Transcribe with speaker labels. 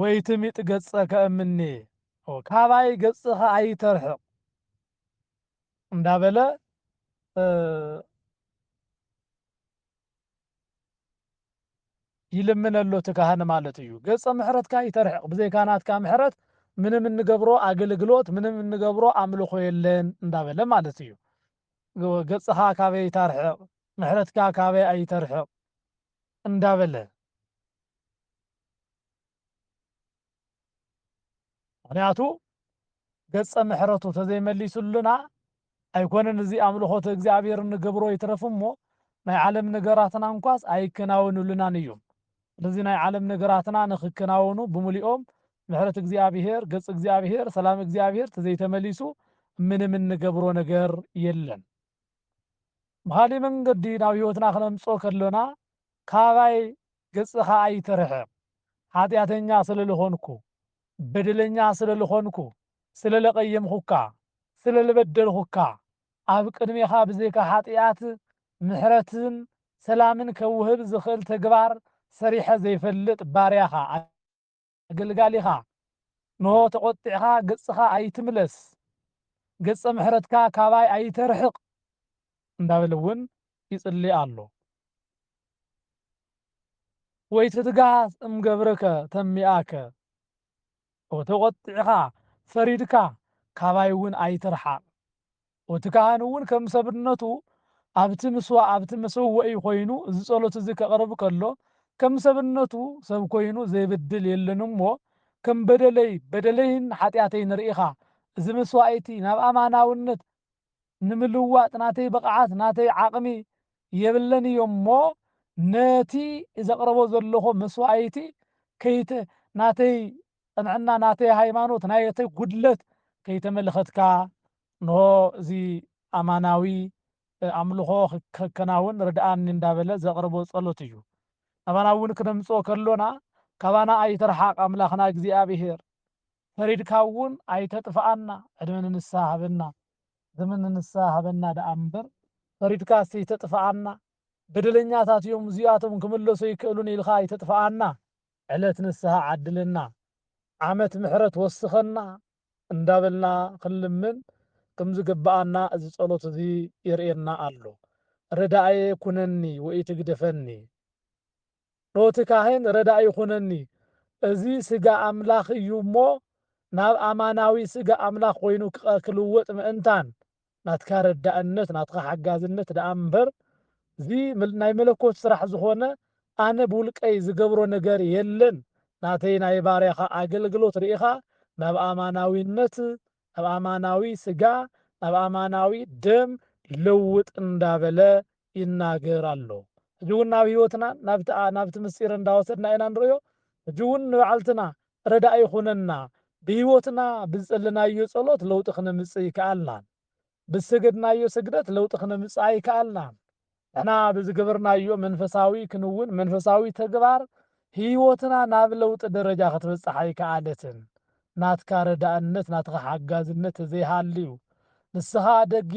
Speaker 1: ወይ ትሚጥ ገጸከ እምኔ ካባይ ገጽኻ ኣይተርሕቕ እንዳበለ ይልምነሎ እቲ ካህን ማለት እዩ። ገጸ ምሕረትካ ይተርሕቕ፣ ብዘይካ ናትካ ምሕረት ምንም እንገብሮ ኣገልግሎት ምንም እንገብሮ ኣምልኾ የለን እንዳበለ ማለት እዩ። ገጽኻ ካበይ ታርሕቕ፣ ምሕረትካ ካበይ ኣይተርሕቕ እንዳበለ ምክንያቱ ገጸ ምሕረቱ ተዘይመሊሱልና ኣይኮነን እዚ ኣምልኾተ እግዚኣብሔር ንገብሮ ይትረፍ እሞ ናይ ዓለም ነገራትና እንኳስ ኣይከናወኑልናን እዩም። ስለዚ ናይ ዓለም ነገራትና ንክከናወኑ ብሙሊኦም ምሕረት እግዚኣብሔር፣ ገጽ እግዚኣብሔር፣ ሰላም እግዚኣብሔር ተዘይተመሊሱ ምንም እንገብሮ ነገር የለን። ብኻሊእ መንገዲ ናብ ሕይወትና ክነምጽኦ ከሎና ካባይ ገጽኻ ኣይተርሕቕ ሓጢኣተኛ ስለልኾንኩ በደለኛ ስለልኾንኩ ስለለቀየምኹካ ስለልበደልኹካ ኣብ ቅድሜኻ ብዘይካ ሓጢኣት ምሕረትን ሰላምን ከውህብ ዝኽእል ተግባር ሰሪሐ ዘይፈልጥ ባርያኻ ኣገልጋሊኻ፣ እንሆ፣ ተቖጢዕካ ገጽካ ኣይትምለስ፣ ገጸ ምሕረትካ ካባይ ኣይተርሕቕ እንዳበለ እውን ይጽሊ ኣሎ። ወይትትጋህ እም ገብርከ ተሚኣከ፣ ተቖጢዕካ፣ ፈሪድካ፣ ካባይ እውን ኣይትርሓቕ። ኡቲ ካህን እውን ከም ሰብነቱ ኣብቲ ምስዋ ኣብቲ መሰወኢ ኮይኑ እዚ ጸሎት እዚ ከቕርብ ከሎ ከም ሰብነቱ ሰብ ኮይኑ ዘይብድል የለን እሞ ከም በደለይ በደለይን ሓጢኣተይን ርኢኻ እዚ መስዋኢቲ ናብ ኣማናውነት ንምልዋጥ ናተይ ብቕዓት ናተይ ዓቕሚ የብለን እዮ እሞ ነቲ ዘቕረቦ ዘለኹ መስዋኢቲ ከይተ ናተይ ቅንዕና ናተይ ሃይማኖት ናተይ ጉድለት ከይተመልኸትካ እንሆ እዚ ኣማናዊ ኣምልኾ ከከናውን ርድኣኒ እንዳበለ ዘቕርቦ ጸሎት እዩ። ናባና እውን ክነምጽኦ ከሎና ካባና ኣይትርሓቕ ኣምላኽና እግዚኣብሄር ፈሪድካ እውን ኣይተጥፍኣና ዕድመ ንንስሃ ሃበና ዘመን ንንስሃ ሃበና ደኣ እምበር ፈሪድካስ ኣይተጥፍኣና በደለኛታት እዮም እዚኣቶም ክምለሱ ኣይክእሉን ኢልካ ኣይተጥፍኣና ዕለት ንስሃ ዓድለና ዓመት ምሕረት ወስኸና እንዳበልና ክንልምን ክምዝግብኣና እዚ ጸሎት እዚ የርእየና ኣሎ ረዳእየ ኩነኒ ወኢትግደፈኒ ኖቲ ካህን ረዳኢ ኩነኒ እዚ ስጋ ኣምላኽ እዩ እሞ ናብ ኣማናዊ ስጋ ኣምላኽ ኮይኑ ክልወጥ ምእንታን ናትካ ረዳእነት ናትካ ሓጋዝነት ደኣ እምበር እዚ ናይ መለኮት ስራሕ ዝኾነ ኣነ ብውልቀይ ዝገብሮ ነገር የለን ናተይ ናይ ባርያኻ ኣገልግሎት ርኢኻ ናብ ኣማናዊነት ናብ ኣማናዊ ስጋ ናብ ኣማናዊ ደም ለውጥ እንዳበለ ይናገር ኣሎ። ሕጂ እውን ናብ ሕይወትናን ናብቲ ኣ ናብቲ ምስጢርን እንዳወሰድና ኢና ንርእዮ። ሕጂ እውን ንባዕልትና ረዳኢ ይኹነና። ብሕይወትና ብዝጸለናዮ ጸሎት ለውጢ ክነምጽእ ኣይከኣልናን። ብዝሰገድናዮ ስግደት ለውጢ ክነምጽእ ኣይከኣልናን። ንሕና ብዝገበርናዮ መንፈሳዊ ክንውን፣ መንፈሳዊ ተግባር፣ ሕይወትና ናብ ለውጢ ደረጃ ክትበጽሕ ኣይከኣለትን። ናትካ ረዳእነት ናትኻ ሓጋዝነት ተዘይሃልዩ ንስኻ ደጊፍ።